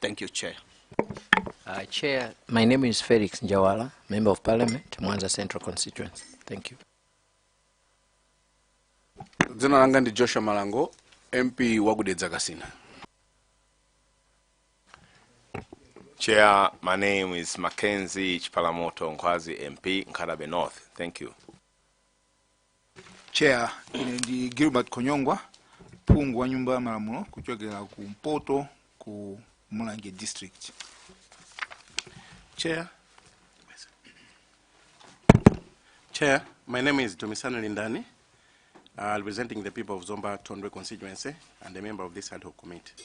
Thank you, Chair. Uh, Chair, my name is Felix Njawala, Member of Parliament, Mwanza Central Constituency. Thank you. Dzina langa ndi Joshua Malango, MP wa ku Dedza Kasina. Chair, my name is Mackenzie Chipalamoto Ngwazi MP, Nkadabe North. Thank you. chair ine ndi gilbert konyongwa phungu wa nyumba ya malamulo kuchokera ku mpoto ku mulanje district Chair. Chair, my name is Domisano Lindani, uh, representing the people of Zomba Tondwe constituency and a member of this ad hoc committee.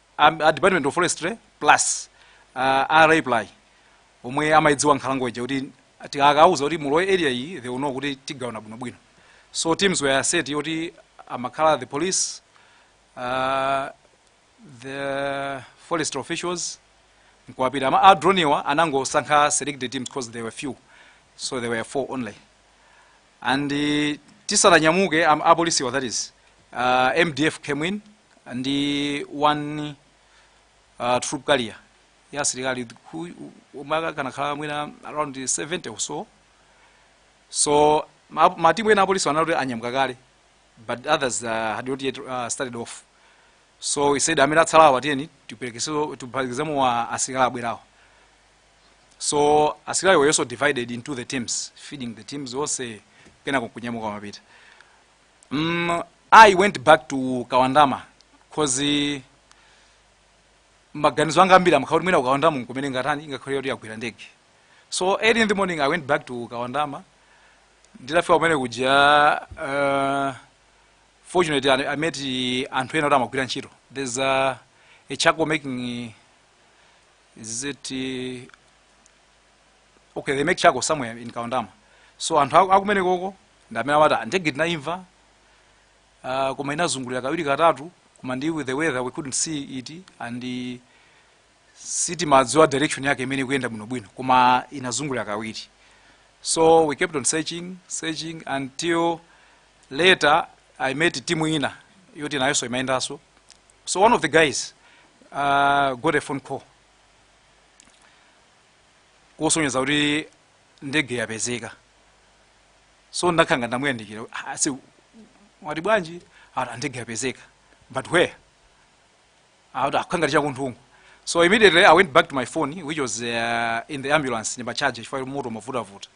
a, a department of forestry plus uh, a Raiply omwe amayidziwa nkhalango ija kuti tikakauza kuti mulowe area iyi they will know kuti tigawana bwinobwino so teams were set kuti amakhala the police uh, the forest officials nkuwapita ama a drone awa anangosankha selected teams because they were few so they were four only and eh, tisananyamuke am- apolisiwa that is uh, mdf came in ndi one uh, troop carrier ya asilikali who- omwe akanakhala mwina around 70 or so so ma- matimu ena apolisi anali kuti anyamuka kale but others uh, had not yet uh, started off so I said amene atsalawa tiyeni tiperekezeso tiphatikizemo asilikali abwerawa so asilikali were also divided into the teams feeding the teams onse kenako kunyamuka kumapita mm, i went back to kawandama cause maganizo anga ambiri amakhala akuti mwina kukawandama nkumene ngatani ingakhale yoti yagwira ndege so early in the morning i went back to kawandama nditafika kumene kuja uh, fortunately I, i met anthu ena oti amagwira ntchito there's a, a charcoal making is it uh, okay they make charcoal somewhere in kawandama so anthu aku- akumene konko ndi amene amati "Ah, ndege tinayimva uh, koma inazungulira kawiri katatu koma ndi with the weather we couldn't see it and uh, sitimadziwa direction yake imene ikuyenda bwinobwino koma inazungulira kawiri so we kept on searching searching until later i met timu ina yoti nayonso imayendanso so one of the guys uh, got a phone call kusonyeza kuti ndege yapezeka so ndakhala ngati ndamuyandikira "Ah, ase wati bwanji ati ndege yapezeka but where akuti akhala ngati chakunthungungwa so immediately i went back to my phone which was uh, in the ambulance ndima charge chifukwa moto mavutavuta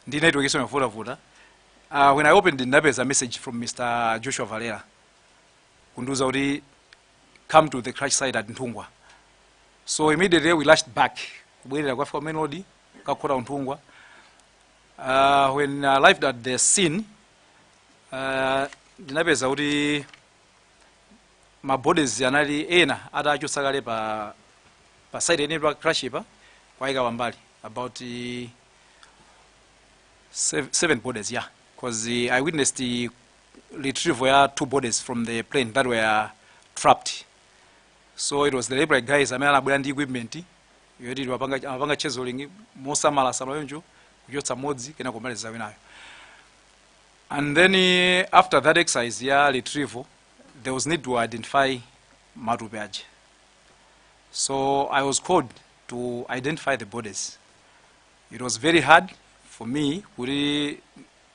ndi network yonso mavutavuta uh, when i opened ndinapeza message from mr joshua valera kundiuza kuti come to the crash site at nthungwa so immediately we rushed back kubwerera kukafika main road kukakhota ku nthungwa uh, when I arrived at the scene uh, ndinapeza kuti mabodies anali ena atachotsa kale pa pa site yeniyeni pa crash pa kuwaika pambali about uh, seven, seven bodies yeah because uh, i witnessed uh, retrieval ya two bodies from the plane that were trapped so it was the library guys amene anabwera ndi equipment yoti amapanga chiseling mosamala samala yonjo kuchotsa modzi kena kumaliza winayo and then eh, after that exercise ya retrieval there was need to identify matupi aja so i was called to identify the bodies it was very hard for me kuti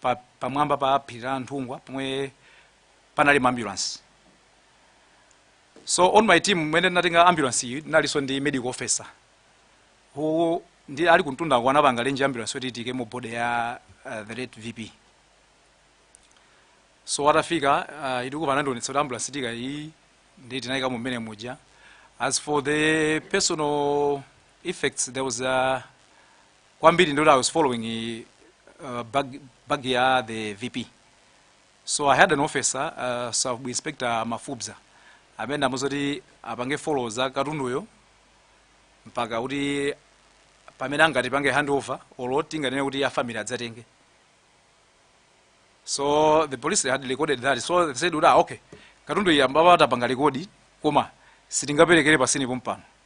pa, pamwamba pa phiri la nthungwa pomwe panali maambulansi so on my team mmene ndinatenga ambulance iyi ndinalinso ndi medical officer who anali kumtundako anapanga arrange ambulance yoti tiikemo body ya uh, the late vp so atafika uh, anandionetsa kuti ambulance tiika iyi ndiye tinayikamo mmene muja as for the personal effects there was a kwambiri ndikuti i was following uh, bag, bag ya the vp so i had an officer uh, sub inspector mafubza amene ndamuza kuti apange follow za katunduyo mpaka kuti pamene angati pange handover olo tinganene kuti a family adzatenge so the police had recorded that so they said kuti ah, okay katunduyu tamupanga rekodi koma sitingaperekere pa scene pompano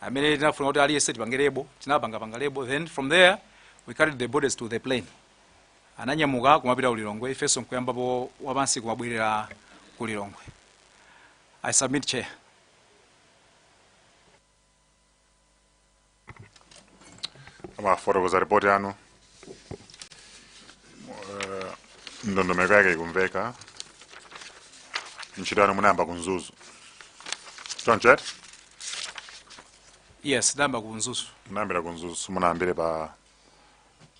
amene tinafunika kuti aliyense tipange lebo tinapanga panga label then from there we carried the bodies to the plane ananyamuka kumapita ku lilongwe ifenso nkuyambapo wapansi kumabwerera ku lilongwe i submit chair mwafotokoza ripoti yanu Eh, ndondomeko yake ikumveka ntchito yanu munayamba ku mzuzu choncho eti yes ndayamba kunzuzu munayambira kunzuzu simunayambire pa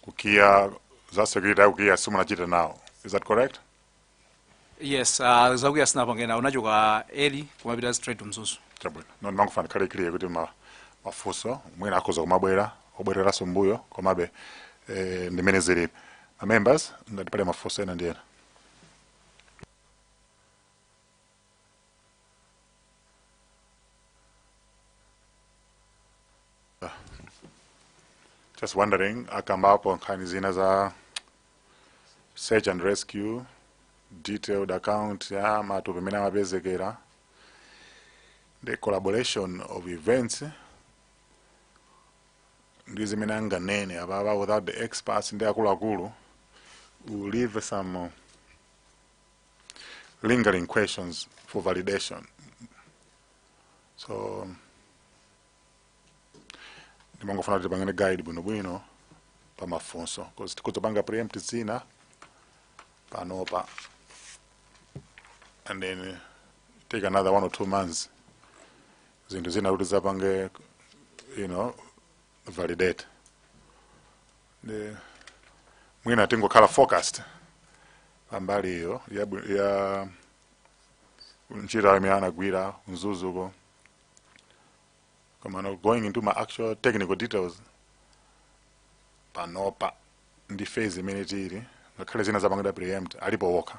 kukiya za security ya kukiya simunachite nawo is that correct yes uh, za ku kia sindinapange nawo ndinachoka early kumapita straight to mzuzu chabwino no ndimangofuna zikhale clear kuti ma mafunso mwina akhoza kumabwera obwereranso mbuyo komabe eh, ndimene zilili ma members ngati pali mafunso ena ndi ena just wondering akambapo nkhani zina za search and rescue detailed account ya matupi mmene amapezekera the corroboration of events ndi zimene anganene apapa without the experts ndi akuluakulu will leave some uh, lingering questions for validation. So, ndimangofuna kuti tipangane guide bwinobwino pa mafunso because tikudzapanga preempt zina panopa and then take another one or two months zinthu zina kuti tizapange you know validate ndi mwina tingokhala focused pambali iyo ya, bwi- ya ntchito imene anagwira ku Mzuzuko koma no going into ma actual technical details panopa ndi phase imene tili ngakhale zina zapangidwa preempt alipo wokha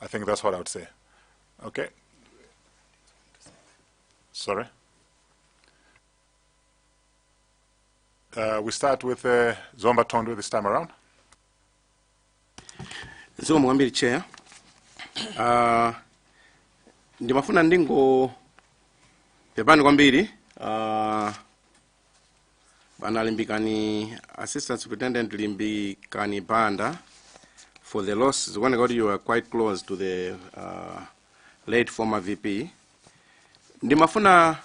I think that's what I would say. Okay. Sorry. Uh, we start with uh, Zomba Tondo this time around. zikomo kwambiri chair uh, ndimafuna ndingopepani kwambiri uh, bwana limbikani assistant superintendent limbikani banda for the loss zikuoneka kuti you are quite close to the uh, late former vp ndimafuna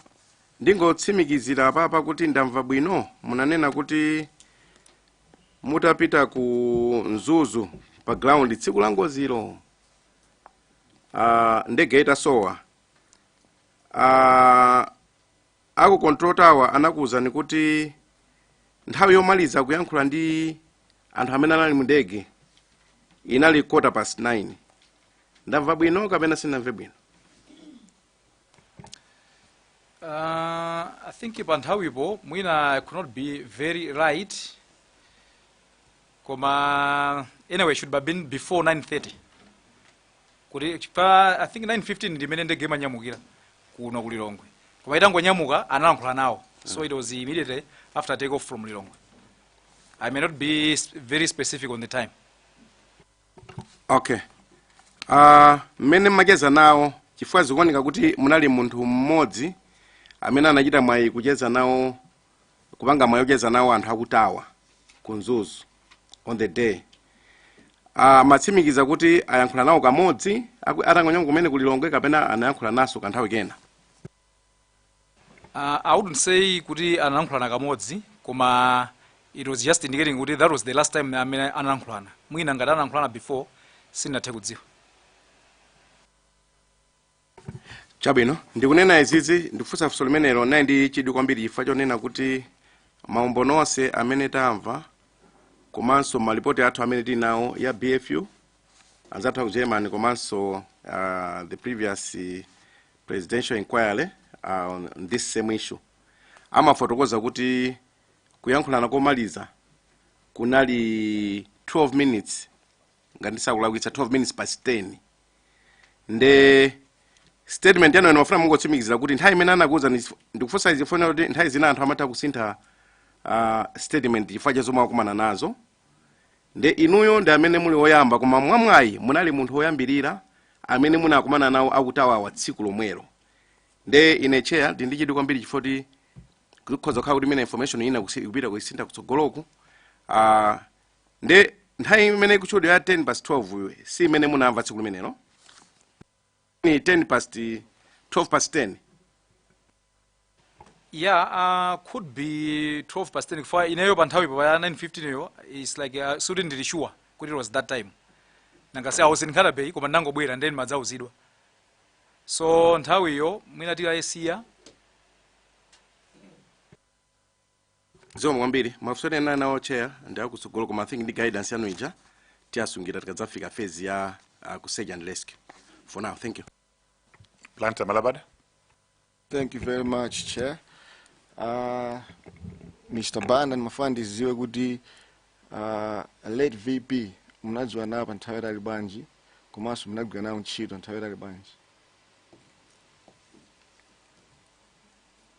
ndingotsimikizira apapa kuti ndamva bwino munanena kuti mutapita ku mzuzu pa ground tsiku la ngozilo uh, ndege itasowa uh, Aku control tower anakuuzani kuti nthawi yomaliza kuyankhula ndi anthu amene anali mu ndege inali quarter past 9. Ndamva bwino kapena sindinamve bwino? Uh, I think pa nthawipo mwina I could not be very right koma anyway should have been before 9:30 kuti i think 9:15 ndimene ndege imanyamukira kuno ku lilongwe koma itangonyamuka analankhula nawo so it was immediately after take off from lilongwe i may not be s- very specific on the time okay Ah, mmene mmacheza nawo chifukwa zikuoneka kuti munali munthu mmodzi amene anachita mwayi kucheza nawo kupanga mwayi ocheza nawo anthu akutawa ku mzuzu on the day amatsimikiza kuti anayankhula nawo kamodzi aku- atangonyamuka kumene ku lilongwe kapena anayankhula nawonso kanthawi kena Uh, I wouldn't say kuti analankhulana kamodzi koma it was just indicating kuti that was the last time amene analankhulana mwina ngati analankhulana before sin'nathe kudziwa chabwino ndikunena izizi ndikufunsa funso limenelo naye ndi chidwi kwambiri chifukwa chonena kuti maumboni onse amene tamva komanso malipoti athu amene tili nawo a bfu anzathu aku germany komanso uh, the previous uh, presidential inquiry uh, on this same issue amafotokoza kuti kuyankhulana komaliza kunali 12 minutes ngati sindikulakwitsa 12 minutes past 10 nde statement yanu ndimafuna mungotsimikizira kuti nthawi imene anakuuza ndi- ndikufunsa izi chifukwa kuti nthawi zina anthu amatha kusintha uh, statement chifukwa cha zomwe akumana nazo nde inuyo ndi amene muli woyamba koma mwamwayi munali munthu woyambirira amene munakumana nawo akutawawa tsiku lomwelo nde ine chair ndi ndichidwi kwambiri chifukwa kuti kukhoza kukhala kuti imene information ina kusi- ikupita kuisintha kutsogoloku uh, nde nthawi imene ikutchulidwa ya 10 past 12 iyi si imene munamva tsiku limenelo ni 10 past 12 past 10 yeah uh, could be 12 past 10 for ineyo pa nthawipo ya 9:15 yo it's like uh, sikuti ndili sure kuti it was that time nanga si i was in Nkhata-Bay koma ndangobwera nde ndimadzauzidwa so nthawiyo mwina tikayesiya zikomo kwambiri mafunso ena ndinali nawo chair ndi akutsogolo koma i think ndi guidance yanu ija tiyasungira tikadzafika phase ya uh, ku search and rescue for now thank you Blantyre Malabada. Thank you very much, Chair. Uh, Mr. Banda ndimafuna ndidziwe kuti uh, late VP mnadziwana nawo pa nthawi yaitali bwanji komanso mnagwira nawo ntchito nthawi yaitali bwanji.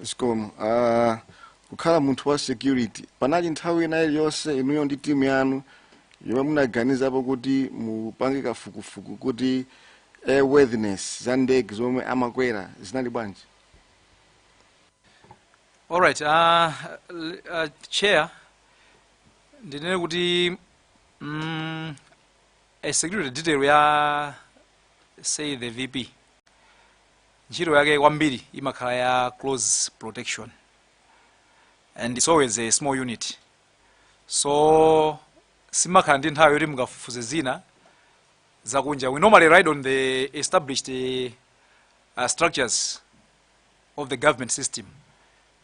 zikomo Ah, kukhala munthu wa security panali nthawi ina iliyonse inuyo ndi timu yanu yomwe munaganizapo kuti mupange kafukufuku kuti airworthiness za ndege zomwe amakwera zinali bwanji All right, uh, l- uh, chair, ndinene kuti mm, a security detail ya say the VP ntchito yake kwambiri imakhala ya close protection and it's always a small unit so simakhala ndi nthawi yoti mukafufuze zina zakunja we normally ride on the established eh, uh, structures of the government system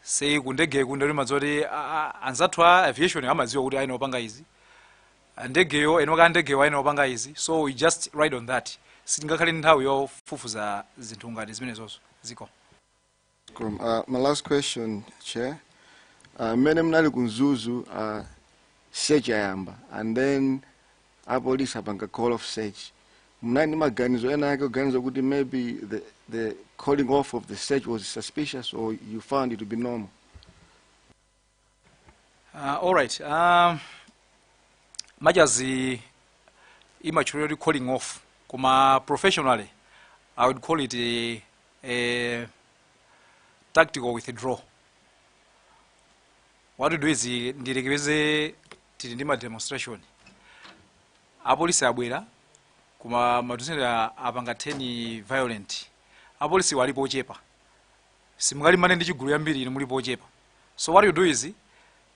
say kundege kunde timadziwa kuti ah, ah, anzathu a aviation amadziwa kuti ayenera kupanga izi a ndegewo eni ake a ndegewo ayenera kupanga izi so we just ride on that sitingakhale ndi nthawi yofufuza zinthu ngati zimenezozo zikomo, uh, my last question, Chair. Uh, mmene mnali ku Mzuzu uh, search yayamba and then apolisi apanga call off search mnali ndi maganizo ena ake oganiza kuti maybe the, the calling off of the search was suspicious or you found it to be normal Uh, all right. Um, majazi imatchulidwa kuti calling off koma professionally i would call it a, a tactical withdraw what we do is eh, ndiyerekeze tili ndi ma demonstration apolisi abwera koma ma demonstrator apanga turn violent apolisi alipo ochepa simungalimbane ndi chigulu chambiri inu mulipo ochepa so what you do is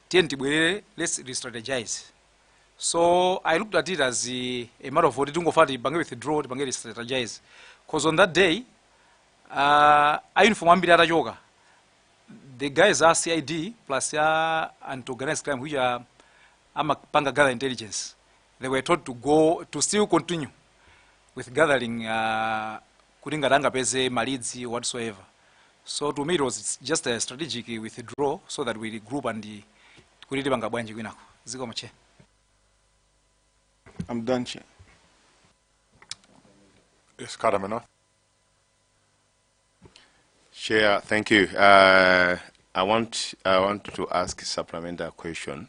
tiyeni tibwerere let's restrategize so i looked at it as uh, a matter of kuti tingoyamba tipange withdraw tipange restrategize because on that day uh, a uniform ambiri atachoka the guys a CID plus a anti-organized crime which amapanga gather intelligence they were told to, to still continue with gathering uh, kuti ngati angapeze ma leads whatsoever so to me it was just a strategic withdraw so that we regroup and kuti tipanga bwanji kwinako zikomo che I'm done che Yes, Karamana. Chair, thank you. Uh, I want I want to ask a supplementary question.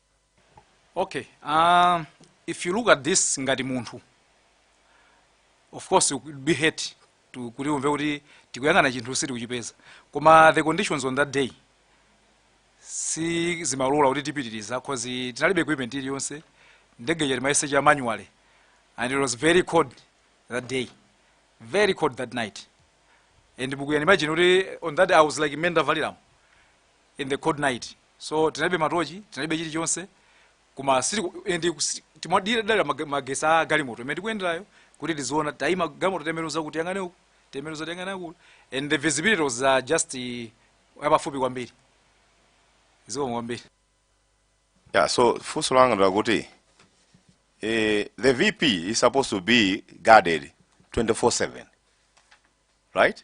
okay uh, if you look at this ngati munthu of course you could be hurt to- kuti umve kuti tikuyang'ana chinthu sitikuchipeza koma the conditions on that day sizimalola kuti tipitirize cause tinalibe equipment iliyonse ndege ija timayesecha manually and it was very cold that day very cold that night and you can imagine kuti on that day i was like menda valiramu in the cold night so tinalibe matochi tinalibe chilichonse koma sitiku- and kusi- timadalira mag- magesi a galimoto imene tikuyenderayo kuti tiziona taima galimoto tembenuza kuti tiyang'ane uku tembenuza tiyang'ane uku and the visibility was uh, just uh, yapafupi kwambiri zikomo kwambiri Yeah, so funso langa ndi lakuti eh, the VP is supposed to be guarded 24/7. Right?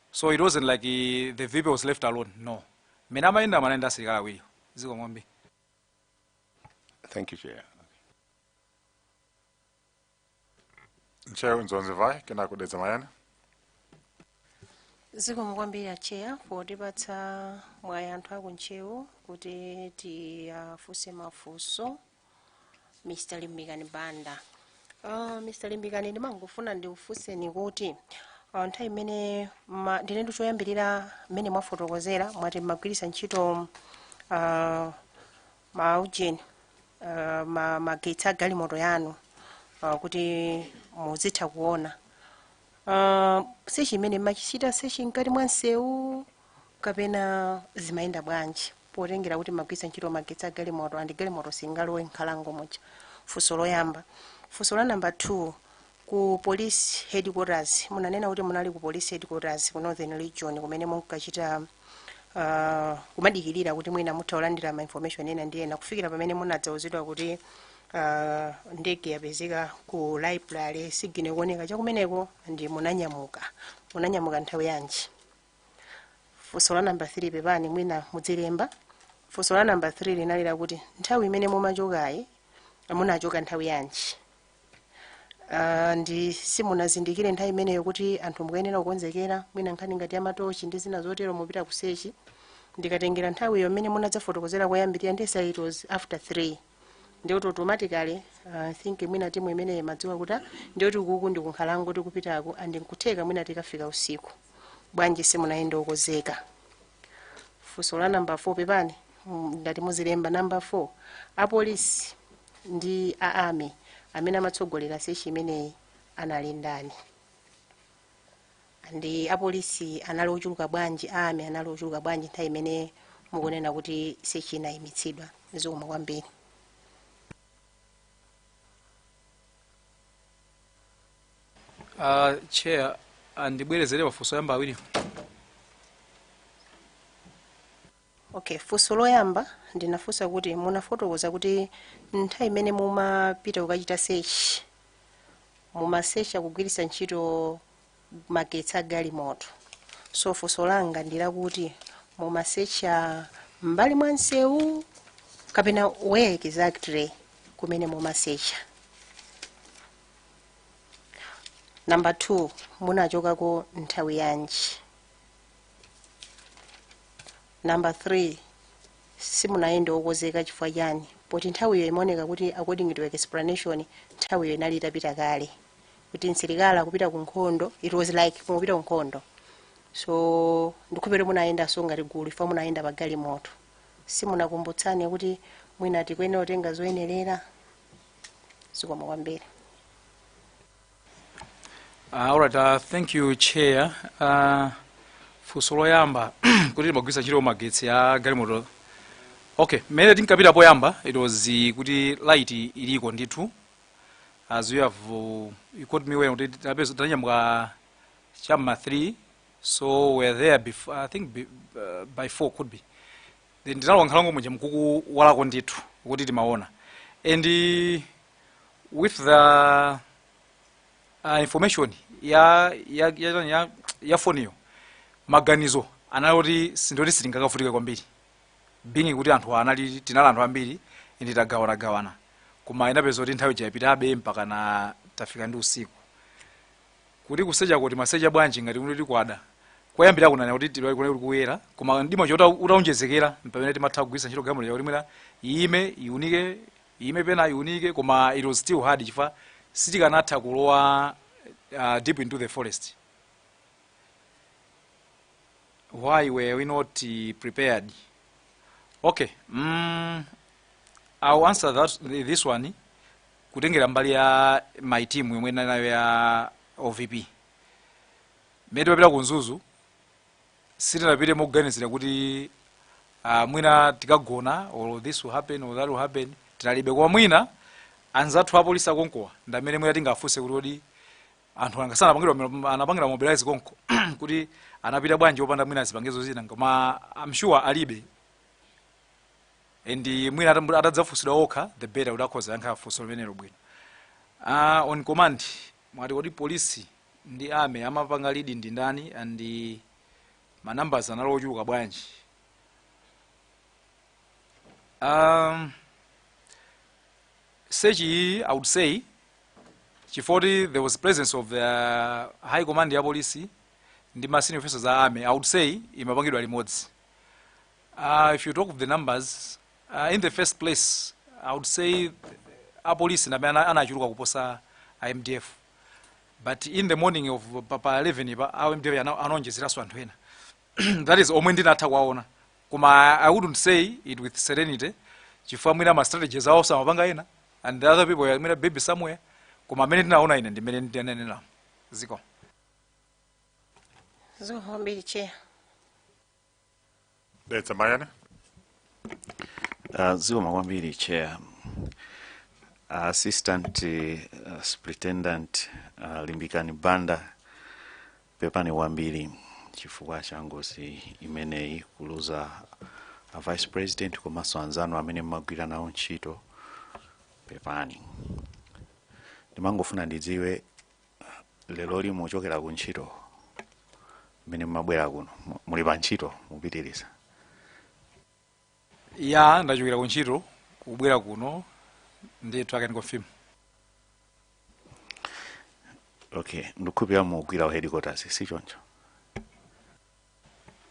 so it wasn't like the vp was left alone no mmene amayendamo anali ndi asilikali awiri zikomo kwambiri thank you chair Ntcheu Dzonzi Mvai, kenako Dedza Mayani. zikomo kwambiri acheya potipatsa mwayi anthu aku ntcheu kuti tiwafunse mafunso mr limbikani banda uh, mr limbikani ndimangofuna ndikufunseni kuti uh, nthawi imene ma- ndine ndi choyambirira mmene mwafotokozera mwati mmagwiritsa ntchito uh, maujeni uh, ma, magetsi a galimoto yanu uh, kuti muzitha kuona uh, sechi imene mmachita sechi mkati mwa msewu kapena zimayenda bwanji potengera kuti mmagwiritsa ntchito magetsi a galimoto and galimoto singalowe mnkhalango muja? Funso loyamba. Funso la number 2, ku police headquarters, munanena kuti munali ku police headquarters ku Northern Region kumene munkachita uh, kumadikirira kuti mwina mutha kulandira ma information ena ndi ena kufikira pamene munadzauzidwa kuti uh, ndege yapezeka ku last signal kuoneka chakumeneko ndiye munanyamuka munanyamuka nthawi yanji funso la namba 3 pepani mwina mudzilemba funso la namba 3 linali lakuti nthawi imene mumachokayi munachoka nthawi yanji Ah, ndiye simunazindikire nthawi imeneyo kuti anthu mukuyenera kukonzekera mwina nkhani ngati ya matochi ndi zina zotero mupita kusechi ndikatengera nthawiyo imene munadzafotokozera koyambirira ndi said it was after 3 ndi kuti automatically uh, I think mwina timu imeneyi imadziwa kuti ndi kuti ukuku ndi kunkhalango tikupitako and nkutheka mwina tikafika usiku bwanji simunayende okonzeka funso la namba 4 pepani mm, ngati muzilemba namba 4 apolisi ndi a army amene amatsogolera sechi imeneyi anali ndani and apolisi anali ochuluka bwanji a army anali ochuluka bwanji nthawi imene mukunena kuti sechi inayimitsidwa zikomo kwambiri Uh, chair andibwerezere mafunso oyamba awiri Okay, funso loyamba ndinafunsa kuti munafotokoza kuti nthawi imene mumapita kukachita search mumasecha kugwiritsa ntchito magetsi a galimoto so funso langa ndi lakuti mumasecha m'mbali mwa msewu kapena where exactly kumene mumasecha namba 2 munachokako nthawi yanji namba 3 simunayende okonzeka chifukwa chani poti nthawiyo imaoneka kuti according to explanation nthawiyo inali itapita kale kuti msilikali akupita ku nkhondo it was like mukupita ku nkhondo so ndikhulupirira munayendanso ngati gulu chifukwa munayenda pa galimoto simunakumbutsane kuti mwina tikuyenera kutenga zoyenerera zikomo kwambiri Uh, all right, uh, thank you chair. Uh, funso loyamba kuti timagwiritsa ntchito magetsi a galimoto okay mmene tinkapita poyamba it was uh, kuti light inaliko ndithu as you have uh, you caught me when kuti tinapeza- tinanyamuka cha m'ma 3 so we were there before, i think be, uh, by 4 could be then ndinalowa m'nkhalango muja nkuti kuwala kuliko ndithu kuti timaona and uh, with the uh, information ya ya ya, ya, ya, ya foniyo maganizo anali kuti sindiye kuti sitingakavutike kwambiri being kuti anthu anali tinali anthu ambiri ndi tagawanagawana koma inapezeka kuti nthawi yapitabe mpakana tafika ndi usiku kuti kusecha kuti mumasecha bwanji ngati kuti tikwada kwayambira kunana kuti tilali kunali kuti kuyera koma mdima utaonjezekera m'pamene timatha kugwiritsa ntchito galimoto yakuti mwina iyime iunike Iyime pena iunike koma it was still hard chifukwa sitikanatha kulowa uh, deep into the forest. Why were we not uh, prepared? Okay, mm, I'll answer that, this one kutengera mbali ya my team yomwe ndinali nayo ya OVP. Mmene timapita ku Mzuzu sitinapite moganizira kuti ah, mwina tikagona or this will happen or that will happen tinalibe koma mwina anzathu apolisi akonkowa ndi amene mwina mungafunse kuti kodi anthu anga sanapangidwa anapangira mobilize konko kuti anapita bwanji opanda mwina zipangizo zina koma I'm sure alibe and mwina atambu- atadzafunsidwa okha the better kuti akhoza yankha funso limenelo bwino Ah, on command mwati kodi polisi ndi army amapanga lead ndi ndani and ma numbers anali ochuluka bwanji um, search iyi i would say chifukwa kuti there was presence of the high command ya polisi ndi ma senior officers a army i would say imapangidwa limodzi uh, if you talk of the numbers uh, in the first place i would say apolisi ndamene ana- anachuluka kuposa a mdf but in the morning of pa, pa 11 pa a mdf ana- anaonjezeranso anthu ena that is omwe ndinatha kuwaona koma i wouldn't say it with serenity chifukwa mwina ma strategies awo amapanga ena and the other people were mwina maybe somewhere koma amene ndinaona ine ndi mmene ndinaneneramo ziko Zikomo kwambiri chair. Dedza Mayani. Uh, zikomo kwambiri chair assistant uh, superintendent uh, limbikani banda pepani kwambiri chifukwa cha ngozi imeneyi kuluza a vice president komanso anzanu amene mmagwira nawo ntchito pepani ndimangofuna ndidziwe leroli mwachokera ku ntchito mmene mumabwera kuno mu- muli pa ntchito mupitiriza ya ndachokera ku ntchito kubwera kuno ndithu I can confirm okay ndikukhulupirira mugwira ku headquarters si choncho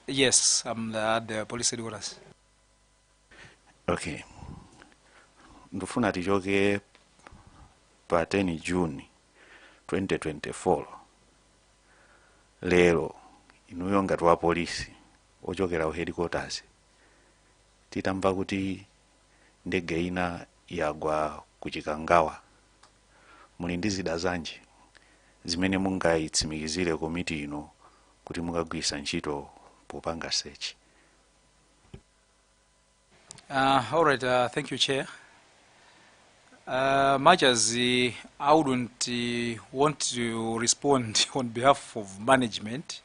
yes i'm the, at the police headquarters okay ndifuna tichoke pa 10 june 2024 lero inuyo ngati wa polisi wochokera ku headquarters titamva kuti ndege ina yagwa ku chikangawa muli ndi zida zanji zimene mungayitsimikizire komiti ino kuti mukagwiritsa ntchito popanga search Uh, all right, uh, thank you, Chair. Uh, much as uh, I wouldn't uh, want to respond on behalf of management,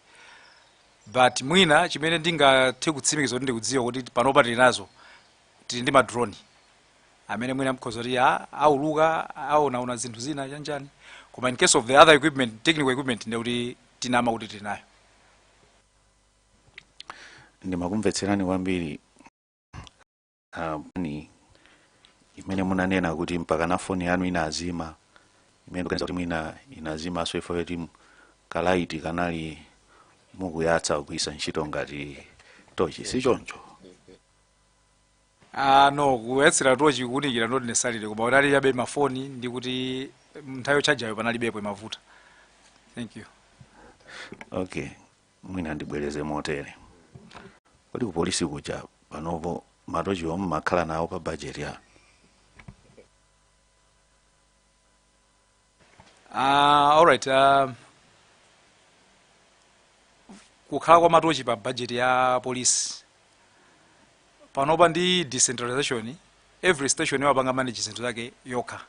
but mwina chimene ndingathe kutsimikiza kuti ndikudziwa kuti panopa tili nazo tili ndi madroni amene mwina akhoza kuti a- auluka aonaona zinthu zina chanichani koma in case of the other equipment technical equipment ndekuti tinama kuti tili nayo ndimakumvetserani kwambiri ah, paja imene munanena kuti mpaka na foni yanu inazima imene kuganiza kuti mwina inazimanso chifukwa choti kalaiti kanali mukuyatsa kugwisa ntchito ngati tochi si choncho Ah, no kuyatsira tochi kuunikira not necessarily koma kutalika chabe mafoni ndi kuti nthawi yotchajayo panalibepo imavuta thank you okay mwina ndibwereze motere kodi kupolisi kuja panopo matochiwo mmakhala nawo pa bajeti ya Ah, all right. Uh, kukhala kwa matochi pa budget ya police panopa ndi decentralization every station amapanga manage zinthu zawo zokha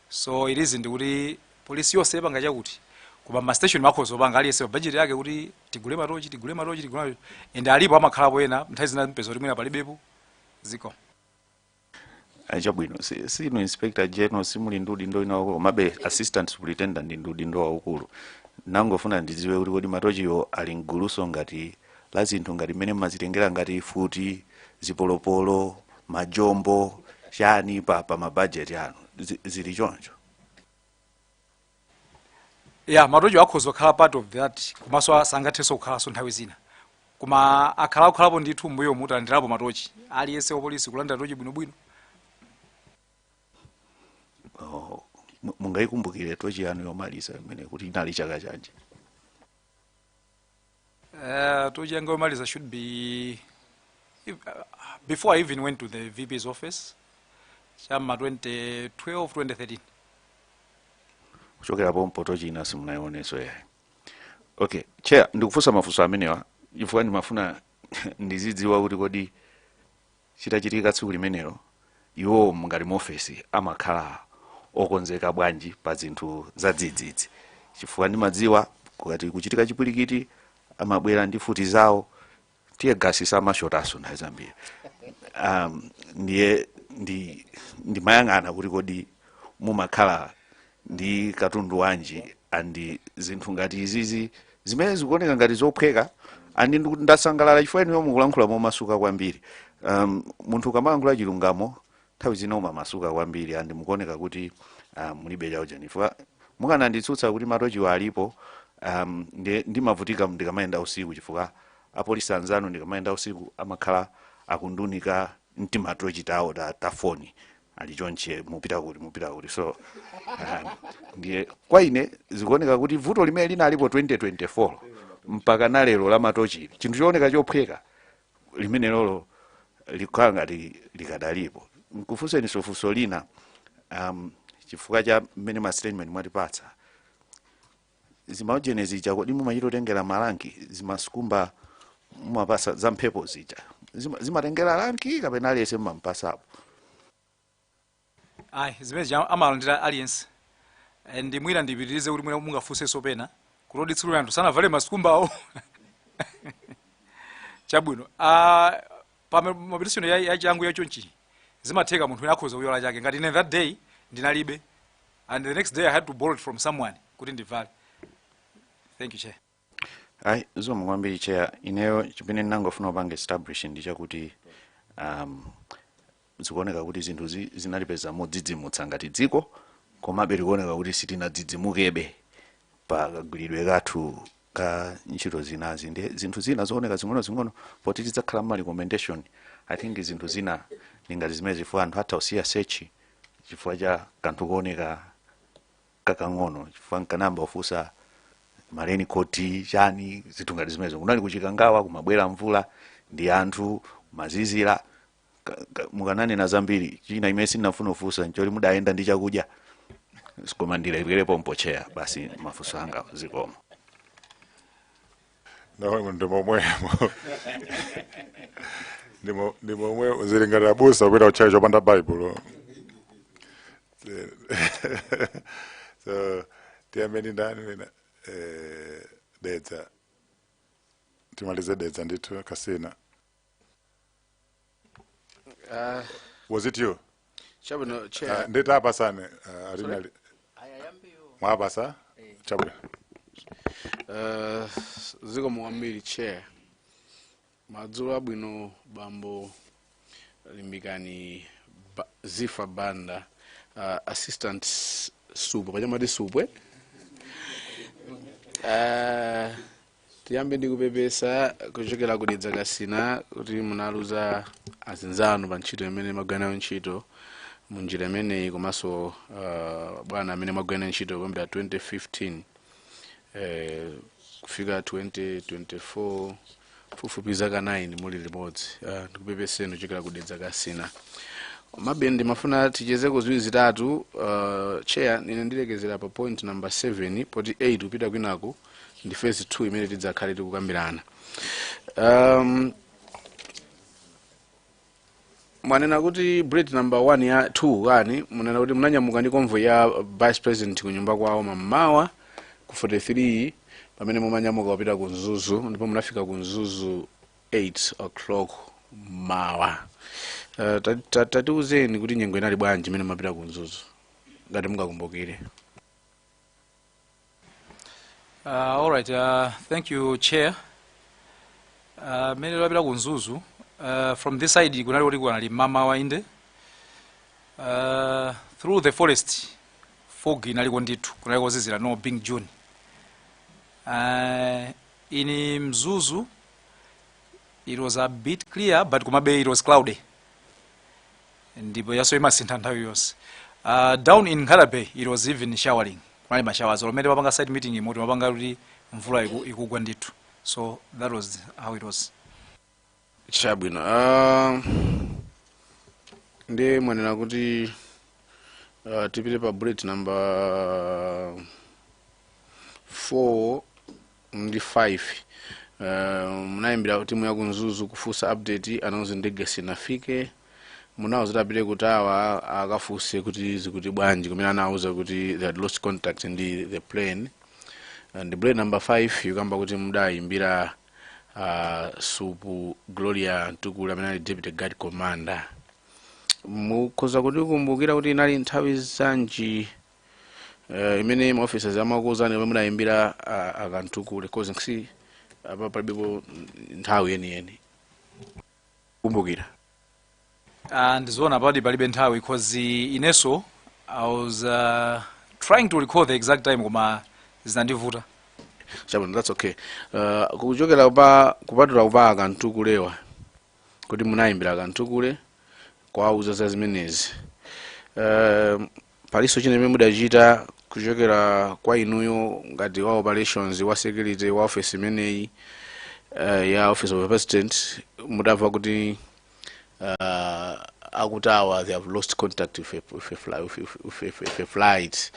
so it isn't kuti polisi yonse ipanga chakuti koma ma station amakhoza kupanga aliyense pa budget yake kuti tigule matochi tigule matochi tigule matochi and alipo amakhalapo ena nthawi zina mupeza kuti mwina palibepo ziko Eh, chabwino si- sinu Inspector general simuli ndi udindo ina wakulu komabe assistant superintendent ndi ndi udindo waukulu nangofuna ndidziwe kuti kodi matochiwo ali mgulunso ngati la zinthu ngati mmene mmazitengera ngati mfuti zipolopolo majombo chani pa, pa mabajeti anu Zi- zili choncho ya matochi akhoza kukhala part of that komanso sangathenso kukhalanso nthawi zina koma akhala akukhalapo ndithu mbuyomu talandirapo matochi aliyense wapolisi kulandira tochi bwinobwino oh, mu- mungayikumbukire tochi yanu yomaliza imene kuti inali chaka chanji Uh, tochi yanga yomaliza should be if, uh, before I even went to the VP's office cha m'ma 2012 2013 kuchokera pompo tochi ina simunaionenso yayi okay chair ndikufunsa mafunso amenewa chifukwa ndimafuna ndizidziwa kuti kodi chitachitika tsiku limenelo, inuyo ngati ma ofesa mumakhala okonzeka bwanji pa zinthu zadzidzidzi, chifukwa ndimadziwa kukati kuchitika chipwirikiti amabwera ndi mfuti zawo tear gas samashotanso nthawi zambiri um, ndiye ndi ndimayang'ana kuti kodi mumakhala ndi katundu wanji and zinthu ngati izizi zimene zikuoneka ngati zophweka and ndiku- ndasangalala chifukwa inuyo mukulankhula momasuka kwambiri um, munthu ukamalankhula chilungamo nthawi zina umamasuka kwambiri and mukuoneka kuti uh, mulibe chaujani chifukwa mukananditsutsa kuti matochiwa alipo um, ndi- ndimavutika ndikamayenda usiku chifukwa apolisi anzanu ndikamayenda usiku amakhala akundiunika ndi timatochi tawo ta, ta foni ali chonche mupita kuti mupita kuti so ah, ndiye kwa ine zikuoneka kuti vuto limene linalipo 2024 mpaka na lero la matochili, chinthu chooneka chophweka limenelolo likhala ngati likadalipo nkufunseninso funso lina um, chifukwa cha mmene ma statement mwatipatsa zimaujeni zija kodi mumachita kutengera ma rank zimasikumba mumapasa za mphepo zija Zima- zimatengera rank kapena aliyense mumampasapo ayi zimene zija amalandira aliyense Eh, ndi mwina ndipitirize kuti mwina mungafunsenso pena kuti oditsulira anthu sanavale masikumbawo chabwino Ah, pa ma- mobilization ya, ya changu ya chonchi zimatheka munthu wina akhoza kuyiwala chake ngati ine that day ndinalibe and the next day i had to borrow it from someone kuti ndivale thank you chair ayi zikomo kwambiri chair ineyo chimene ndinangofuna kupanga establish ndi chakuti um, zikuoneka kuti zinthu zi- zinalipeza modzidzimutsa ngati dziko komabe zikuoneka kuti sitinadzidzimukebe pa kagwiridwe kathu ka ntchito zinazi ndi zinthu zina zooneka zing'onozing'ono poti tidzakhala mu ma recommendation i think zinthu zina ndi ngati zimenezo chifukwa anthu atha kusiya search chifukwa cha kanthu kooneka kakang'ono chifukwa nkanayamba kufunsa ma raincoat chani zinthu ngati zimenezo kunali ku Chikangawa kumabwera mvula ndiye anthu amazizira Ka- ka- mukananena zambiri china chimene ndinafuna kufunsa nchoti mudayenda ndi chakudya koma ndilekere pompo chair basi mafunso anga zikomo no ndi momwemo Ndi mo- ndi momwe zili ngati abusa kupita kutchalitchi opanda baibulo so tiyambeni ndani wina Eh, dedza timalize dedza ndithu kasina Ah, was it you chabwino Ah, chair ndati apa tsano ah, alina li- mwapasa chabwino Ah, zikomo kwambiri chair madzulo abwino bambo limbikani ba, zifa banda ah, assistant supwe panyamata ati supwe Ah, tiyambe ndi kupepesa kuchokera ku dedza kasina kuti munaluza azinzanu pa ntchito imene mumagwira nawo ntchito mu njira imeneyi komanso uh, bwana amene mumagwira nawo ntchito kuyambira 2015 eh, kufika 2024 pafupifupi zaka 9 muli limodzi uh, ndikupepeseni kuchokera ku dedza kasina komabe ndimafuna tichezeko ziwiri zitatu uh, chair ine ndilekezera pa point number 7 poti 8 kupita kwinaku ndi phase 2 imene tidzakhale tikukambirana um, mwanena kuti bullet number 1 ya 2 kani mwanena kuti munanyamuka ndi convoy ya vice president ku nyumba kwawo mammawa ku 43 pamene mumanyamuka kupita ku mzuzu ndipo munafika ku mzuzu 8 o'clock mmawa uh, tatiuzeni kuti nyengo inali bwanji imene mumapita ku mzuzu ngati mungakumbukire Uh, all right, uh, thank you chair. Uh, mmene ndapita ku Mzuzu. Uh, from this side kunali kuti kunali mmamawa inde. Uh, through the forest fog inaliko ndithu kunali kozizira no being June. Uh, in Mzuzu it was a bit clear but kumabe it was cloudy. ndipo yaso imasintha nthawi yonse uh, down in Nkhata Bay it was even showering kunali ma showers olo mmene timapanga site meetingimo timapanga kuti mvula iku- ikugwa ndithu so that was how it was chabwino ah, ndi mwanena kuti ah, tipite pa bullet number 4 ndi 5 uh, munayimbira timu ya ku Mzuzu kufunsa update anakuuzani ndege sinafike munawauza kuti apite ku tower akafunse kuti zikuti bwanji kumene anawauza kuti they had lost contact ndi the plane and bullet number 5 ikukamba kuti mudayimbira uh, supu Gloria Mtukule amene ali deputy guard commander mukhoza kutikumbukira kuti inali nthawi zanji Eh, imene ma officers amakuuzani omwe mudayimbira a- a Kamtukule cause I can see apa palibepo nthawi yeniyeni kumbukira Ah, ndizoona padi palibe nthawi because ineso i was uh, trying to recall the exact time koma zinandivuta chabwino that's okay uh, kuchokera pa kupatula pa a Kamtukulewa kuti munayimbira a Kamtukule kuwauza za zimenezi uh, palinso china chimene mudachita kuchokera kwa inuyo ngati wa operations wa security wa office imeneyi uh, ya office of the president mutamva kuti uh, a ku tower they have lost contact with a, with a, fly, with, with, with, with, with a flight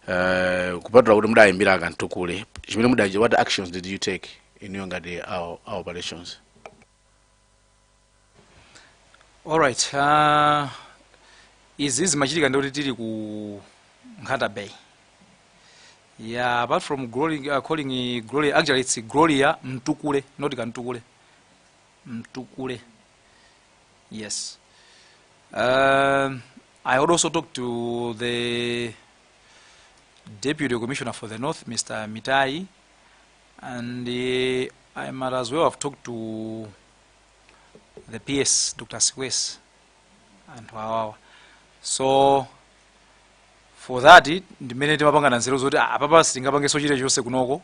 uh, kupatula kuti mudayimbira a Kamtukule chimene mudachi what actions did you take inuyo ngati wa, wa operations Alright, uh, izi zimachitika ndikuti tili ku Nkhata Bay. Yeah, apart from glory, uh, calling it glory, actually it's Gloria Mtukule, not Kantukule. Mtukule. Yes. Um, I would also talk to the Deputy Commissioner for the North, Mr. Mitai, And uh, I might as well have talked to the PS, Dr. Sikwese, and Wawawa. So, for that, ndimene timapangana nzeru zoti ah, apapa sitingapangenso chilichonse kunoko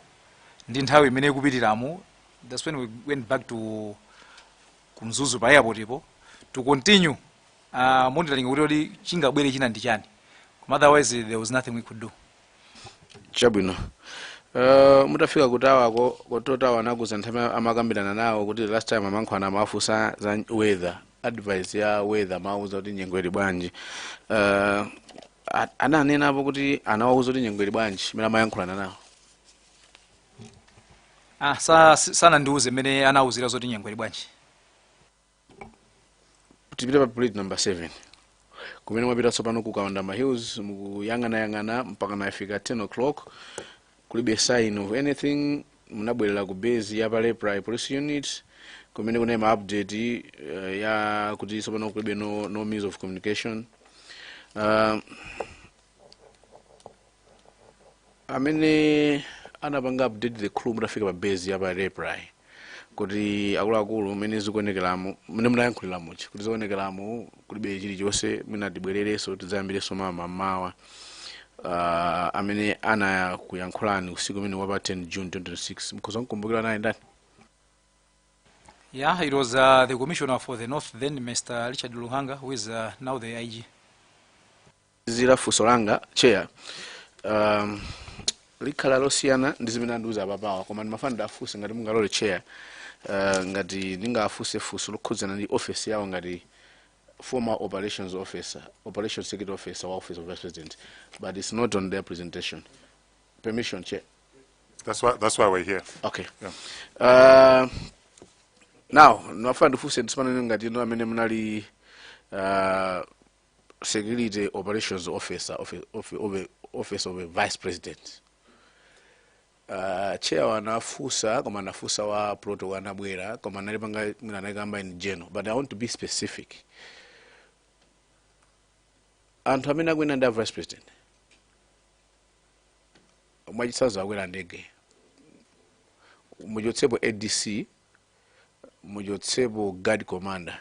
ndi nthawi mmene ikupitiramo that's when we went back to ku Mzuzu pa airportpo to continue uh, monitoring kuti kodi chingabwere china ndi chani koma otherwise there was nothing we could do chabwino uh, mutafika ku towerko control tower anakuuzani nthawi imene amakambirana nawo kuti last time amayankhulana amafunsa za weather advice ya weather amawauza kuti nyengo ili bwanji uh, a- ananenapo kuti anawauza kuti nyengo ili bwanji mmene amayankhulana nawo ah, sa, si- sanandiuze mmene anawauzira zoti nyengo ili bwanji tipite pa bullet number 7 kumene mwapita tsopano ku kawandama hills mukuyang'anayang'ana mpaka nafika 10 o'clock kulibe sign of anything munabwerera ku base ya pa raiply police unit kumene kunali ma update uh, ya kuti tsopano kulibe no, no means of communication uh, amene anapanga update the crew mutafika pa base ya pa raiply kuti akuluakulu mmene zikuonekeramo mmene munayankhulira muchi kuti zikuonekeramo kulibe chilichonse mwina tibwererenso tidzayambirenso mawa mmamawa uh, amene anakuyankhulani usiku umene wapa 10 june 2026 mukhoza kukumbukira anali ndani Yeah, it was uh, the commissioner for the north then, Mr. Richard Luhanga, who is uh, now the IG. zira funso langa chair um, likhala losiyana ndi zimene andiuza apapawa koma ndimafuna ndiwafunse ngati mungalole chair uh, ngati ndingafunse funso lokhudzana ndi office yawo ngati former operations officer operation security officer wa office of vice president but it's not on their presentation permission chair That's why, that's why we're here. okay uh, now ndimafuna ndifunse ndisimana ngati inu amene munali uh, security operations officer of, of, of, office of a vice president uh, chair anafunsa koma anafunsa wa protocol anabwera koma analipanga mwina anakamba in general but i want to be specific anthu amene akuyenda ndi a vice president mwachitsanzo akwera ndege muchotsepo adc muchotsepo guard commander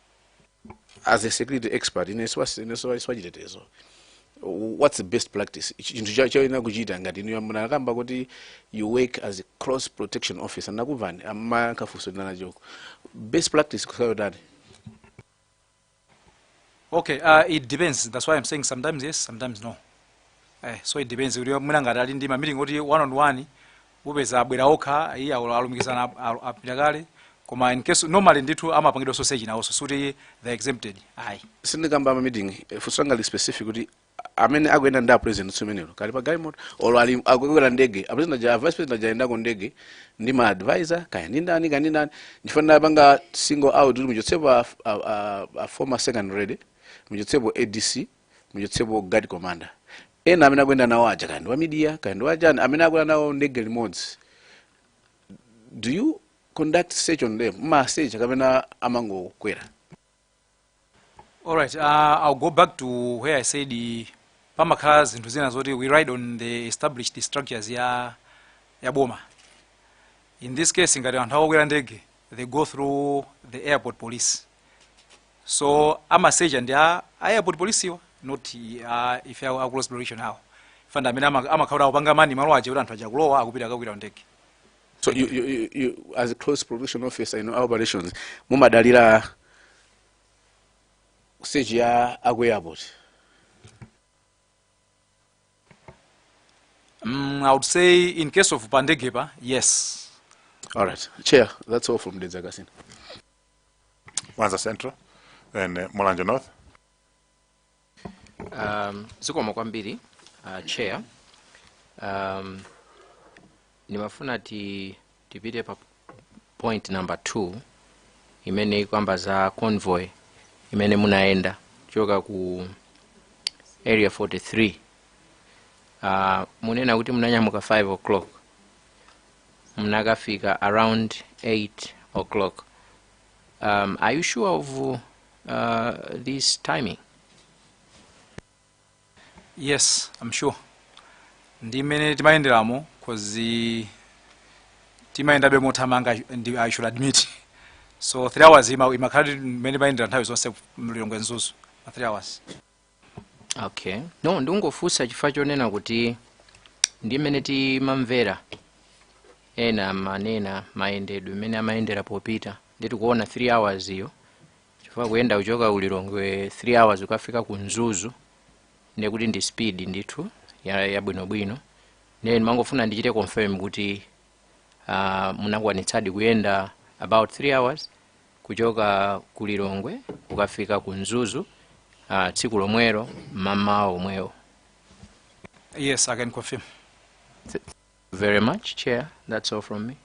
as a security expert ine siwa- ine siwa- siwachitetezo what's the best practice Ichi- chinthu cha- choyenera kuchita ngati inu munakamba kuti you work as a close protection officer ndinakumvani amakafunso ndinanachoko best practice kusayotani okay uh, it depends that's why i'm saying sometimes yes sometimes no eh, so it depends kuti mwina ngati ali ndi mameeting kuti one on one upeza abwera okha iya olo alumikizana ap- alu- apita kale koma in case normally ndithu amapangidwanso search nawonso sikuti they're exempted ayi sindikamba a ma meeting eh, funso langa lili specific kuti amene akuyenda ndi apresident tsiku limenelo kaya ali pa galimoto olo ali akukwera ndege apresident aja vice president aja ayendako ndege ndi ma advisor kaya ndi ndani kaya ndi ndani ndinapanga single out kuti muchotsepo a, a, a, a former second lady muchotsepo adc muchotsepo guard commander ena amene akuyenda nawo aja kaya ndi wa media kaya ndi wachani amene akukwera nawo ndege limodzi do you conduct search on them mumawasecha kapena amangokwera All right, uh, I'll go back to where I said uh, pamakhala zinthu zina zoti we ride on the established structures ya ya boma. In this case ngati anthu akukwera ndege they go through the airport police. so amasecha ndi a airport police-wa not ife a close protection awo ndi amene amakhala akupanga man malo aja kuti anthu aja akulowa akupita kukakwera ndege so you, you, you, you, as a close protection officer in your operations mumadalira search ya aku airport mm, i would say in case of pandegepa yes all right chair that's all from Dedza Kasina Mwanza Central then uh, Mulanje North. Um, zikomo kwambiri uh, chair um, ndimafuna ti, tipite pa point number 2 imene ikukamba za convoy imene munayenda kuchoka ku area 43 uh, munena kuti munanyamuka 5 o'clock munakafika around 8 o'clock um, are you sure of uh, this timing yes i'm sure ndi mmene timayenderamo cause timayendabe mothamanga i should admit so three hours ima- imakhala ndi mmene timayendera nthawi zonse Lilongwe Mzuzu ma three hours okay no ndikungofunsa chifukwa chonena kuti ndi mmene timamvera ena amanena mayendedwe mmene amayendera popita ndiye tikuona 3 hours iyo chifukwa kuyenda kuchoka ku lilongwe 3 hours kukafika ku mzuzu ndiye kuti ndi speed ndithu ya- yabwinobwino ndiye ndimangofuna ndichite confirm kuti uh, munakwanitsadi kuyenda about 3 hours kuchoka ku lilongwe kukafika ku mzuzu uh, tsiku lomwelo mmawa omwewo Yes, I can confirm. very much chair that's all from me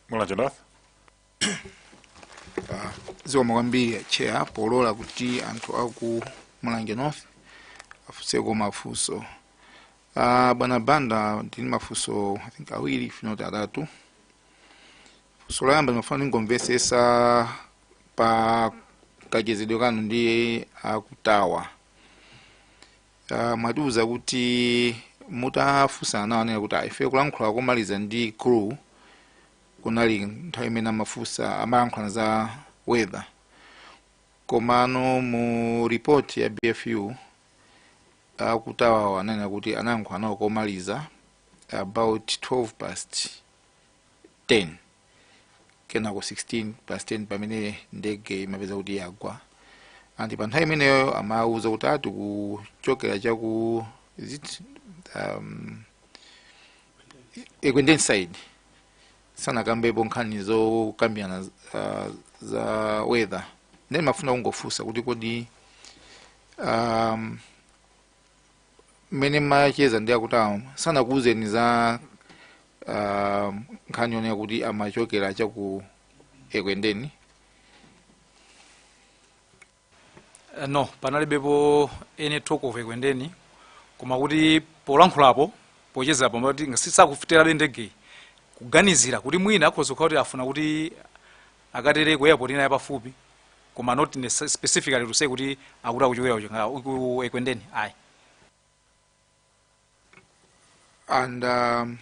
mulanje north zikomo kwambiri chair polola kuti anthu aku mulanje north afunseko mafunso Ah, bwana banda ndili mafunso i think awiri if not atatu funso loyamba ndimafuna ndingomvetsetsa pa kachezedwe kanu ndi a Kutawa uh, mwatiuza kuti mutafunsana nawo ananena kuti ife kulankhula komaliza ndi crew kunali nthawi imene amafunsa amayankhulana za weather komano mu report ya bfu akutawawo ananena kuti anayankhulana nawo komaliza about 12 past 10 kenako 16 past 10 pamene ndege imapeza kuti yagwa anti pa nthawi imeneyo amawuza kuti ati kuchokera chaku is it um, ekwendeni side sanakambepo nkhani zokambirana uh, za weather nde ndimafuna kungofunsa kuti kodi um, mmene mumacheza ndi akuti awo sanakuwuzeni za ah, nkhani yonena kuti amachokera chaku ekwendeni Eh, no panalibepo any talk of ekwendeni koma kuti polankhulapo pochezapo mmati ngati sakufikirabe ndegeyi kuganizira kuti mwina akhoza kukhala kuti afuna kuti akatere ku airport ina yapafupi koma not nece- specifically to say kuti akuti akuchokera kuchingala ku ekwendeni ayi and um,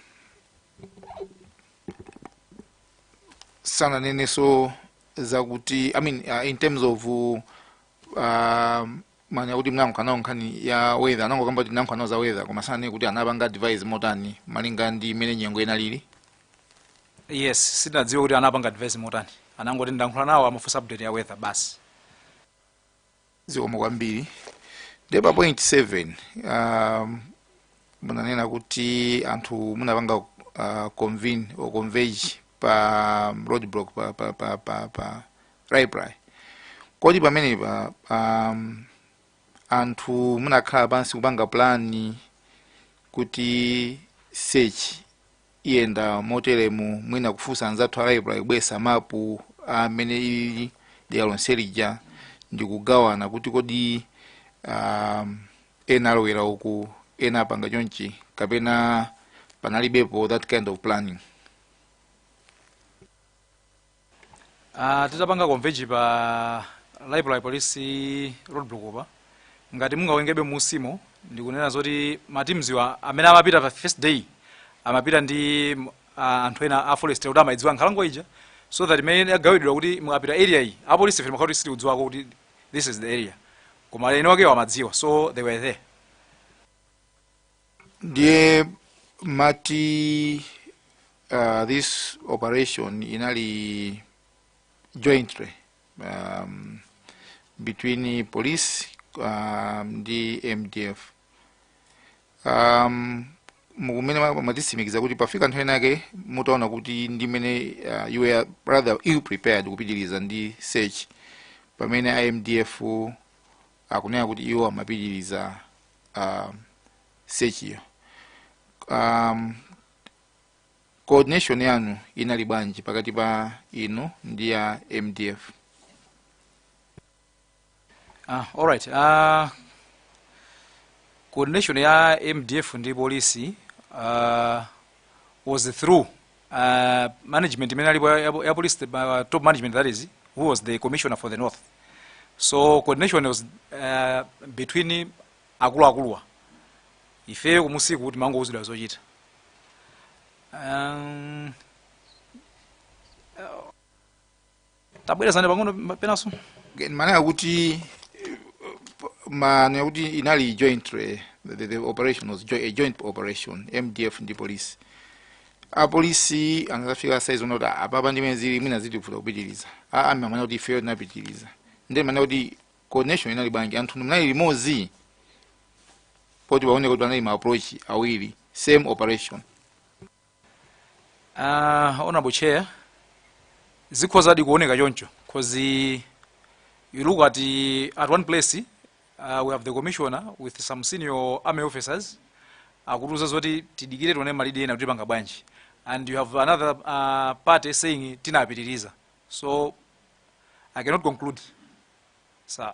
sananenenso zakuti i mean uh, in terms of uh, um, mwanena kuti munalankhulana nawo nkhani ya weather anangokamba kuti nnalankhulana nawo za weather koma sananene kuti anapanga advise motani malinga ndi mmene nyengo inalili yes sindinadziwe kuti anapanga advise motani anangoti ndalankhula nawo amafunsa update ya weather basi zikomo kwambiri nde pa point 7 um, munanena kuti anthu munapanga uh, convene or converge pa um, roadblock pa, pa, pa, pa, pa Raiply kodi pamenepa um, anthu munakhala pansi kupanga plani kuti search iyenda moteremu mwina kufunsa anzathu a Raiply kubweresa mapu a mmene ili dera lonse lija ndikugawana kuti kodi um, ena alowera uku ena apanga chonchi kapena panalibepo that kind of planning Ah, titapanga converge pa Raiply police roadblock apa ngati mungawerengebe mu script-mo ndikunena zoti ma team awa amene amapita pa first day amapita ndi m- ah, anthu ena a forest kuti amayidziwa nkhalango ija so that mmene agawidwa kuti mukapita area iyi apolisi fili makhauti sitikudziwako kuti this is the area koma eni wakewo amadziwa so they were there ndiye mati uh, this operation inali jointly um, between police um, ndi mdf um, mukunena ma- mwatitsimikizira kuti pafika nthawi inake mutaona kuti ndi mmene uh, you were rather ill prepared kupitiriza ndi search pamene a mdf akunena kuti iwo amapitiriza uh, sechiyo um, coordination yanu inali bwanji pakati pa inu ndi a mdf ah, alright uh, coordination ya mdf ndi polisi uh, was through uh, management imene inalipo ya, ya police uh, top management that is who was the commissioner for the north so coordination was uh, between akuluakuluwa ifeyo kumusiku timangouzidwa zochita um, tabwerezani pang'ono ma- penanso mmanena kuti mmanena kuti inali joint eh, the, the operation was jo a joint operation mdf ndi polisi apolisi anadzafika saizi yonena kuti apapa ndi mmene zilili mwina zitivuta kupitiriza aa manena kuti ifeyo tinapitiriza nde mmanena kuti coordination inali bwanji anthu munali limodzi poti paoneke kuti panali ma approach awiri same operation Uh, honorable chair zikhozadi kuoneka choncho because you look at, at one place uh, we have the commissioner with some senior army officers akutiuza zoti tidikire tione malidi ena kuti tipanga bwanji and you have another uh, party saying tinapitiriza so i cannot conclude sir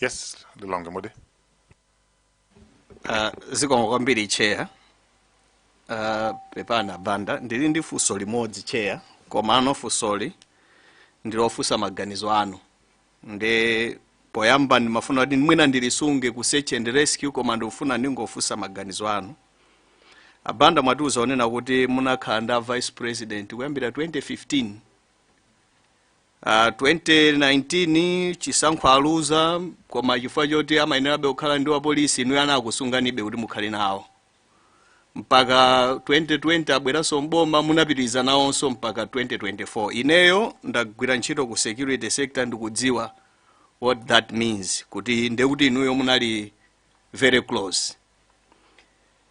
yes lilongwe mudi Uh, zikomo kwambiri chair uh, pepani abanda ndili ndi funso limodzi chair koma ano funsoli ndilofunsa maganizo anu nde poyamba ndimafuna kuti mwina ndilisunge ku search and rescue koma ndikufuna ndingofunsa maganizo anu abanda mwatiuza kunena kuti munakhala ndi a vice president kuyambira 2015 Uh, 2019 chisankho aluza koma chifukwa choti amayenerabe kukhala ndi wapolisi inuyo anakusunganibe kuti mukhale nawo mpaka 2020 abweranso mboma munapitiriza nawonso mpaka 2024 ineyo ndagwira ntchito ku security sector ndikudziwa what that means kuti ndekuti inuyo munali very close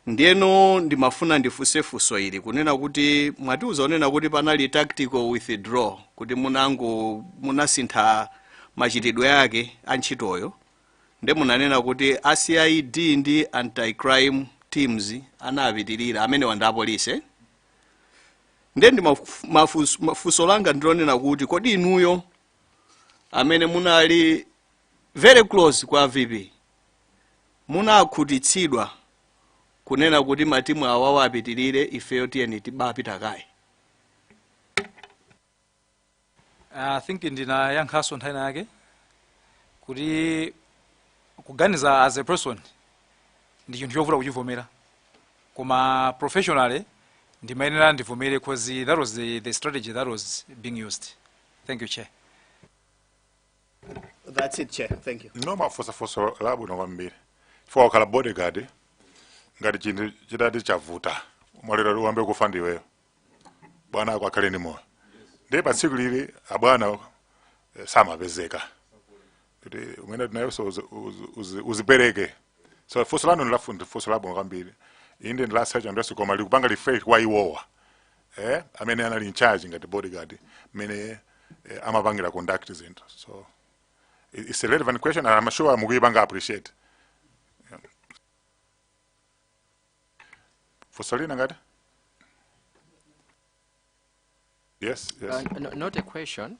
Ndiyeno ndimafuna ndifunse funso ili kunena kuti mwatiuza kunena kuti panali tactical withdraw kuti munango munasintha machitidwe ake a ntchitoyo nde munanena kuti a CID ndi anti crime teams anapitirira amenewa ndi apolisi eh? nde ndi mafu- mafunso funso langa ndilonena kuti kodi inuyo amene munali very close kwa VP munakhutitsidwa kunena kuti matimu awawa apitilire ifeyo tiyeni tibapita kaye I think ndinayankhaso nthawi yake kuti kuganiza as a person ndi chinthu chovuta kuchivomera koma professionally ndimayenera ndivomere because that was the, the strategy that was being used thank you chair That's it, Chair. Thank you. no mwafunsa funso labwino kwambiri chifukwa wakhala bodyguard ngati chinthu chitati chavuta malinga uyambe kufa ndiweyo bwana ako akhale ndi moyo ndiye pa tsiku lili abwana eh, samapezeka kuti umene iweyonso uzi- uzi- uzi- uzipereke so funso lanu ndi funso labwino kwambiri inde ndilasecha ndiyonso koma likupanga refresh kwa iwowa eh, amene anali in charge ngati bodyguard mene eh, amapangira conduct zinthu so it's a relevant question and I'm sure mukuyipanga appreciate yeah. fusolina ngati yes yes uh, no, not a question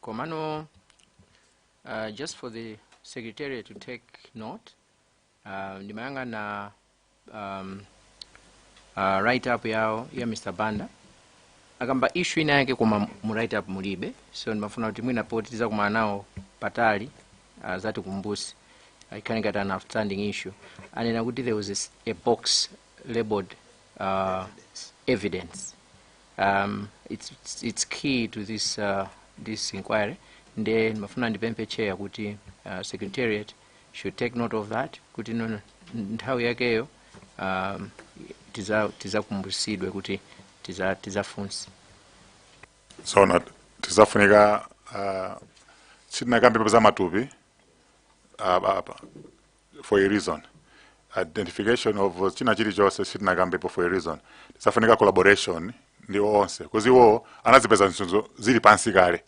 komano uh, just for the secretary to take note uh, ndimayang'ana um, uh, write up yawo ya Mr Banda akamba issue ina yake koma mu write up mulibe so ndimafuna kuti mwina poti tizakumana nawo patali uh, azatikumbutse ikhale ngati an outstanding issue anena kuti there was a s- a box labeled uh, evidence um, it's, it's, it's key to this, uh, this inquiry nde ndimafuna ndipemphe chair kuti uh, secretariat should take note of that kuti no- nthawi yakeyo um, tiza- tizakumbutsidwe kuti tiza- tizafunse tsono tizafunika uh, sitinakambe za matupi ah, ah, ah, for a reason identification of china chilichonse sitinakambepo for a reason tizafunika collaboration ndi onse because iwo anazipeza sanzo zili pansi kale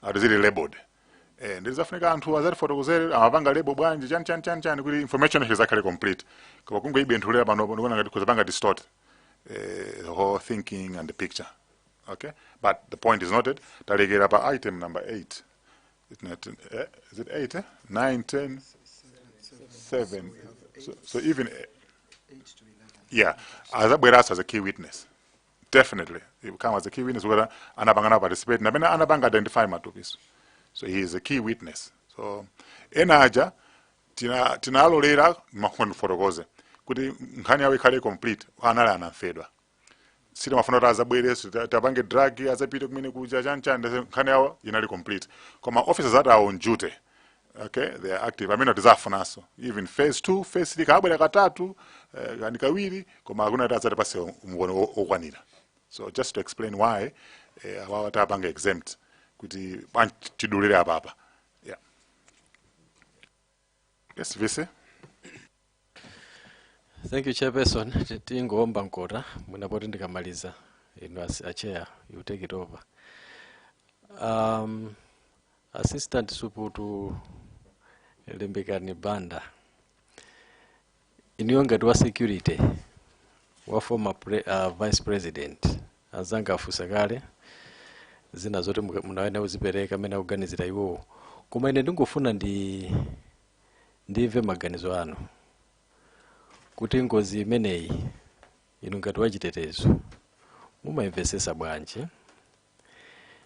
ati zili labeled eh nde izafunika anthu azatifotokozere amapanga label bwanji chani chani chani chani kuti information yake izakhale complete koma kungoibenthulira pano ndikuona ngati kuzapanga distort eh, the whole thinking and the picture okay but the point is noted talekera pa item number 8 It's not, eh, is it 8 eh? 9 10 7 so, so even eh, yeah azabweranso as a key witness definitely he will come as a key witness whether anapangana participate napena anapanga identify matupiso so he is a key witness so ena aja tina- tinalolera mafuna ndifotokoze kuti nkhani yawo ikhale complete anali anamfedwa sitimafuna kuti azabwereso ta- tiwapange drag azapite kumene kuja chanchani nkhani yawo inali complete koma officers that are on duty okay they are active amene tizafunanso even phase 2 phase 3 kabwera katatu eh, kani kawiri koma akufuna kuti adzatipase umboni wo- wokwanira so just to explain why eh, awawa tapanga exempt kuti bwanji tidulire apapa yeah yes vice thank you chairperson Ti- tingowomba mkota mwina poti ndikamaliza inu as- a chair you take it over um, assistant suputu limbikani banda inuyo ngati wa security wa former pre, uh, vice president azanga afusa kale zina zoti muka- mukawone kuzipereka amene akuganizira iwowo koma ine ndingofuna ndi ndimve maganizo anu kuti ngozi imeneyi inu ngati wachitetezo mumayimvesesa bwanji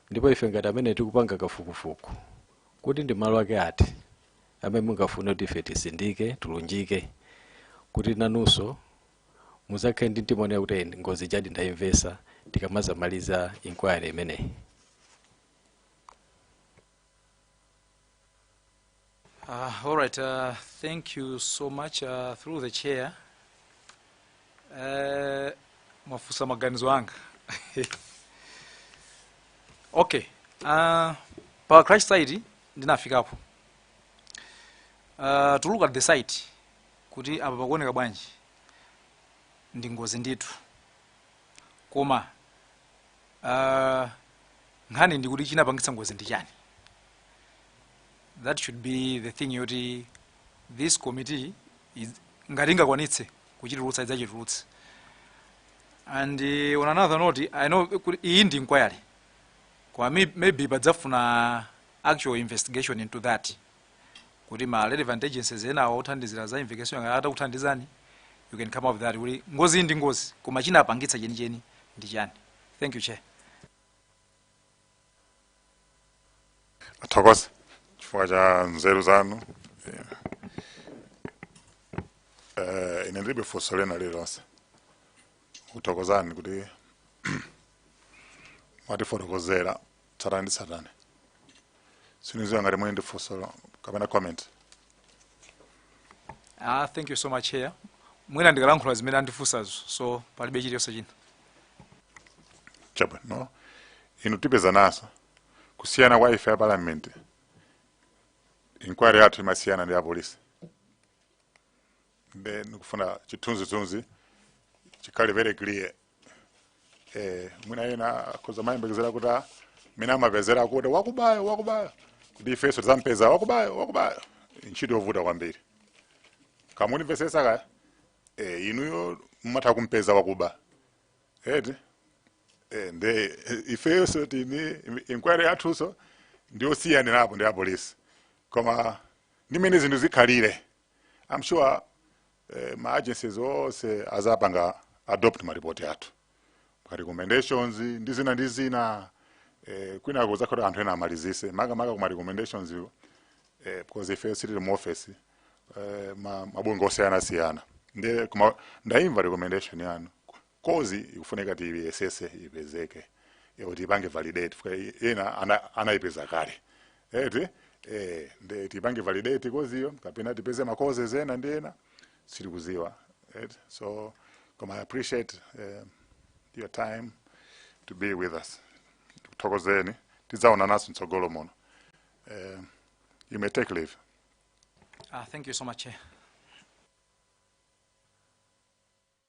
ndipo ife ngati amene tikupanga kafukufuku kuti ndi malo ake ati amene mungafune kuti ife tisindike tilunjike kuti nanunso muzakhale ndi mtima onena kuti "Eh, ngozi ijadi ndayimvesa tikamazamaliza inquiry imeneyi Uh, all right, uh, thank you so much uh, through the chair. Uh, mwafunsa maganizo anga. okay, uh, pa crash site ndinafikapo. Uh, to look at the site kuti apa pakuoneka bwanji ndi ngozi ndithu koma Uh, nkhani ndikuti chinapangitsa ngozi ndi chani that should be the thing yoti this committee is, ngati ingakwanitse kuchitulutsa idzachitulutse and uh, on another note i know kuti iyi ndi inquiry koma may- maybe padzafuna actual investigation into that kuti ma relevant agencies enawo othandizira za investigation ngati atakuthandizani you can come up with that kuti ngozi iyi ndi ngozi koma chinapangitsa chenicheni ndi chani thank you chair tithokoze chifukwa cha nzeru zanu Yeah. Eh, ine ndilibe funso lina lililonse kuthokozani kuti mwatifotokozera tsatane tsatane siniziwa ngati muli ndi funso kapena comment ah thank you so much Chair mwina ndikalankhula zimene andifunsazo so palibe chiliyonse china chabwino inu tipezananso kusiyana kwa ife a parliament inquiry yathu imasiyana ndi apolisi nde ndikufuna chithunzithunzi chikhale very clear eh, mwina ena akhoza kumayembekezera kuti ah, mmene amapezera kuti wakubayo wakubayo kuti ifenso tizampeza wakubayo wakubayo ntchito yovuta kwambiri koma munimvesese kaya eh, inuyo mumatha kumpeza wakuba eti eh, nde eh, ifenso tini inquiry yathunso ndiyosiyanirapo ndi apolisi koma ndi mmene zinthu zikhalire I'm sure eh, ma agencies onse azapanga adopt ma report athu ma recommendations ndi zina ndi zina eh, kwina kuzakhala anthu ena amalizise maka maka kuma recommendations yo, eh, because ife sitili mu office eh, ma mabungwe osiyana siyana nde koma ndaimva recommendation yanu cause ikufunika tiyesese ipezeke kuti tiipange validate fika ena ana, anaipeza kale eti eh, nde tiipange validate cause yo kapena tipeze ma causes ena ndi ena sitikuziwa eti so koma I appreciate eh, your time to be with us tikuthokozeni tidzaonananso mtsogolo muno eh, you may take leave Uh, thank you so much, Chair.